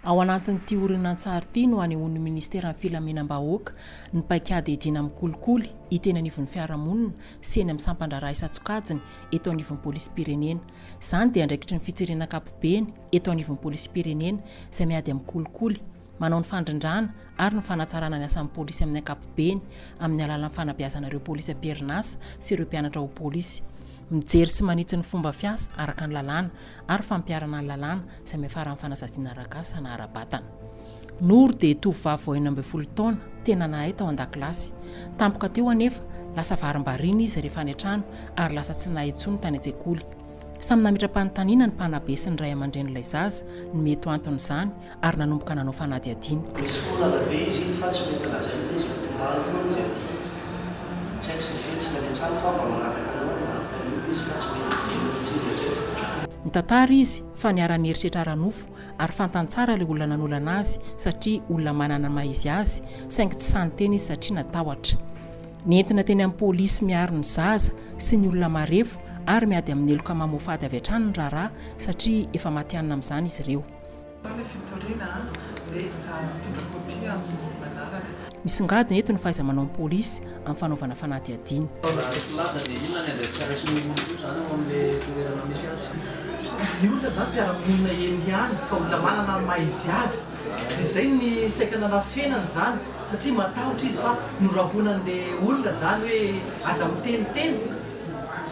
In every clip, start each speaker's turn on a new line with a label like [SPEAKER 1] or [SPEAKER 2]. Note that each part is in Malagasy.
[SPEAKER 1] Ao anatin'ity horonantsary ity no hanehoan'ny Ministeran'ny Filaminam-bahoaka ny paikady hiadiana amin'ny kolikoly hita eny anivon'ny fiarahamonina sy eny amin'ny sampan-draharaha isan-tsokajiny eto anivon'ny Polisim-pirenena. Izany dia andraikitry ny fitsirena ankapobeny eto anivon'ny Polisim-pirenena izay miady amin'ny kolikoly. manao ny fandrindrana ary ny fanatsarana ny asan'ny polisy amin'ny ankapobeny amin'ny alalan'ny fanabeazana ireo polisy am-perinasa sy ireo mpianatra ho polisy mijery sy manitsy ny fomba fiasa araka ny lalàna ary fampiharana ny lalàna izay miafaran'ny fanazadiana ara-kasa na ara-batana. Nour dia tovovavy vao enina ambin'ny folo taona, tena nahay tao an-dakilasy. Tampoka teo anefa, lasa varimbariana izy rehefa any an-trano ary lasa tsy nahay intsony tany an-tsekoly. Samy nametra-panontaniana ny mpanabe sy ny ray aman-drenin'ilay zaza ny mety ho anton'izany ary nanomboka nanao fanadihadiana. Nisy foana avy anie izy iny fa tsy mety lazaina
[SPEAKER 2] hoe izay tomany foana izy aty. Tsy haiko izay fihetsiny any an-trano fa mba mangataka anao ry Martha io izy fa tsy mety be ny hetsiny indraiky. Nitantara izy
[SPEAKER 1] fa niara-niherisetra ara-nofo ary fantany tsara ilay olona nanolana azy satria olona manana ny maha-izy azy saingy tsy sahy niteny izy satria natahotra. Nentina teny amin'ny polisy miaro ny zaza sy ny olona marefo ary miady amin'ny heloka mamoafady avy hatrany ny raharaha satria efa matihanina amin'izany izy ireo. Ny fitoriana dia mitondra kopia amin'ny manaraka. Misongadina eto ny fahaiza-manaon'ny polisy amin'ny fanaovana fanadihadiana.
[SPEAKER 3] Ny olona izany mpiara-monina eny ihany fa olona manana ny maha izy azy dia izay ny saika nanafenana izany satria matahotra izy fa norahonan'ilay olona izany hoe aza miteniteny.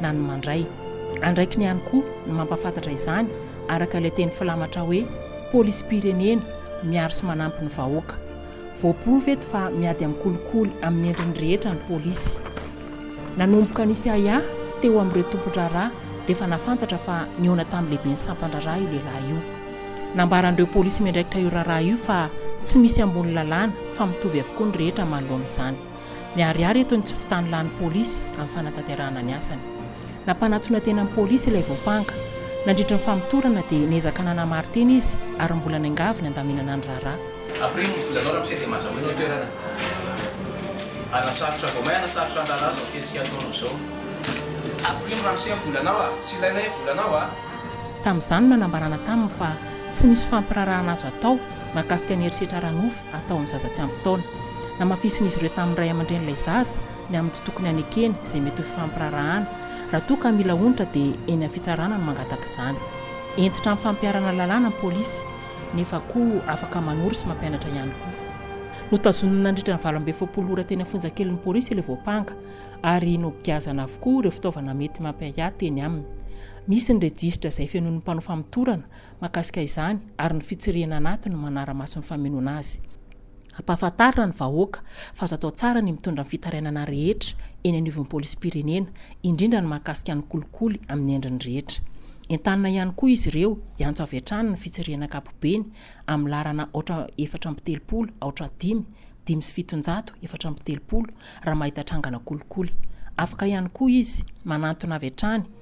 [SPEAKER 1] na ny mandray. Andraikiny ihany koa ny mampahafantatra izany araka ilay teny filamatra hoe Polisim-pirenena miaro sy manampy ny vahoaka. Voaporofo eto fa miady amin'ny kolikoly amin'ny endriny rehetra ny polisy. Nanomboka nisy ahiahy teo amin'ireo tompon-draharaha dia efa nahafantatra fa nihaona tamin'ny lehiben'ny sampan-draharaha io lehilahy io. Nambaran'ireo polisy miandraikitra io raharaha io fa tsy misy ambony lalàna fa mitovy avokoa ny rehetra manoloana izany. Miharihary eto ny tsy fitàn'ny lany polisy amin'ny fanatanterahana ny asany. Nampanatona tena ny polisy ilay voampanga. Nandritra ny famotorana dia niezaka nanamari-tena izy ary mbola niangavy ny handaminana ny raharaha. Après ny volanao
[SPEAKER 4] ramose dia maza hoe ny toerana hanasarotra vao may hanasarotra ny raharaha zao fetsika ataonao zao après ny ramose ny volanao a tsy ilainay ny volanao a. Tamin'izany no
[SPEAKER 1] nanambarana taminy fa tsy misy fampiraharahana azo atao mahakasika ny herisetra ara-nofo atao amin'ny zaza tsy ampy taona. Namafisin'izy ireo tamin'ny ray aman-drenin'ilay zaza ny amin'ny tsy tokony hanekeny izay mety ho fifampiraharahana. Raha toa ka mila onitra dia eny amin'ny fitsarana no mangataka izany. Hentitra amin'ny fampiharana lalàna ny polisy nefa koa afaka manoro sy mampianatra ihany koa. Notazonina nandritra ny valo amby efapolo ora teny Afonjakelin'ny polisy ilay voampanga ary nogiazana avokoa ireo fitaovana mety mampiahiahy teny aminy. Misy ny rejisitra izay fenoin'ny mpanao famotorana mahakasika izany ary ny fitsirihina anaty no manara-maso ny famenoana azy. Ampahafantarina ny vahoaka fa azo atao tsara ny mitondra ny fitarainana rehetra eny anivon'ny polisim-pirenena, indrindra ny mahakasika ny kolikoly amin'ny endriny rehetra. Entanina ihany koa izy ireo hiantso avy hatrany ny fitsirihina ankapobeny amin'ny laharana aotra efatra amby telopolo aotra dimy, dimy sy fitonjato, efatra amby telopolo, raha mahita trangana kolikoly. Afaka ihany koa izy manantona avy hatrany.